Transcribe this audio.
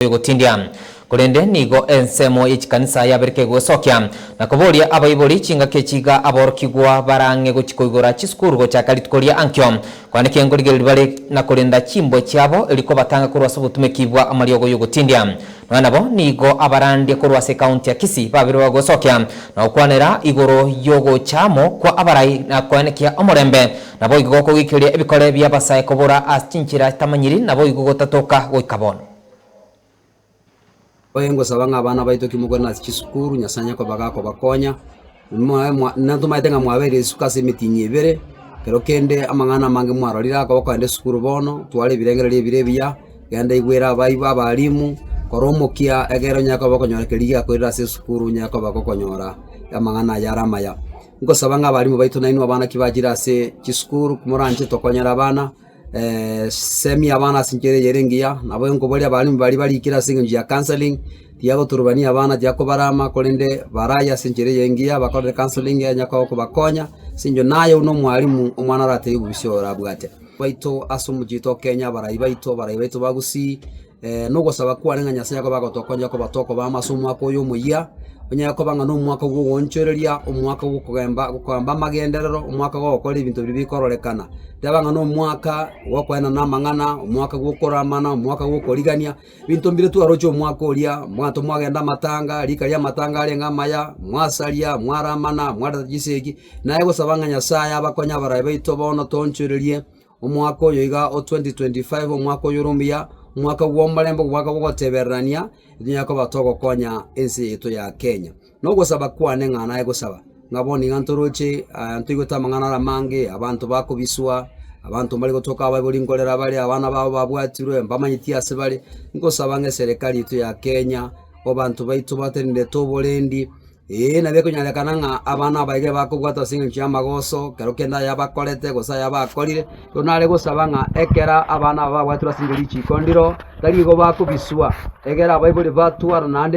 egotindia, korende nigo ensemo ye chikanisa yabereka egoesokia na koboria abaibori chingaki echi iga aborokigwa barang'e gochia koigora chisukuru gochaka rituko ria ankio kwane kengorigereria bare na korenda chimbwe chiabo rikobatanga korwa ase obotumeki bwa amariogo y'ogotindia. Nonya nabo nigo abarandia korwa ase ekaunti ya Kisii babere bagosokia na gokwanera igoro y'ogocha amo kwa abarai na koenekia omorembe naboigo gokogoikereria ebikore bi'abasae kobora ase chinchera chitamanyiri naboigo gotatoka goika bono. Oye ngosaba ng'a abana baito ki mokore nase chisukuru, Nyasae onye koba gakobakonya, mwae mwa natomanyete ng'a mwabeire risuko ase emitinyi ebere, ekero kende amang'ana amange mwarorire akoba kogenda esukuru bono, twara ebirengererio ebire ebiya, genda igwera abaibo abalimu, kora omokia egere onyare koba okonyora keria giakorire ase esukuru onyare koba gokonyora amang'ana aya are amaya. Ngosaba ng'a abalimu baito nainwe abana ki bachire ase chisukuru, moranche tokonyere abana. semi abana ase enchera eyere engiya, nabo nkobori abalimu baria barikire ase engencho ya counselling, tiagoturubania abana, tiakobarama, korende baraye ase enchera eye engiya, bakorere counselling eye enyakoba kobakonya, ase eng'encho naye buna omwalimu omwana oratebi bobosio orabwate. Baito ase omochie oito o Kenya, abarai baito, abarai baito ba Gusii, Nogosaba kwane ng'a Nyasae Yakobo agotokonya koba tokoba amo ase omwaka oyo omoyia, onyare koba ng'a nomwaka bw'ogoonchoreria, omwaka bw'okogamba gokamba amagenderero, omwaka gogokora ebinto biria bikororekana. Teba ng'a nomwaka bw'okoenana amang'ana, omwaka bw'okoramana, omwaka bw'okorigania, ebinto mbire twaroche omwaka oria, abanto mwagenda amatanga, rika riamatanga arenge amaya, mwasaria, mwaramana, mwareta chisegi, naye gosaba ng'a Nyasae abakonye abarai baito bono toonchorerie. Omwaka oyo iga o 2025, omwaka oyore omuya, omwaka bw'omorembe, omwaka bw'ogotebererania, etinyare koba togokonya ense yaito ya Kenya. Na ogosaba kwane ng'a naye gosaba, ng'a bono iga ntoroche aa ntoigwete amang'ana are amange, abanto bakobiswa, abanto mbari gotoka abaibori nkorera bare, abana babo babwatirwe, mbamanyeti ase bare, ngosaba ng'a eserekari yaito ya Kenya, abanto baito batenenerete oborendi. Ee, na bikonyorekana ng'a abana abaige bakobwatwa ase engencho y'amagoso, kero kende ayabakorete, gose ayabakorire. Rero nare gosaba ng'a ekero abana aba babwatirwe ase riiko ndiro, tari igo bakobiswa, egera abaibori batwarana naende.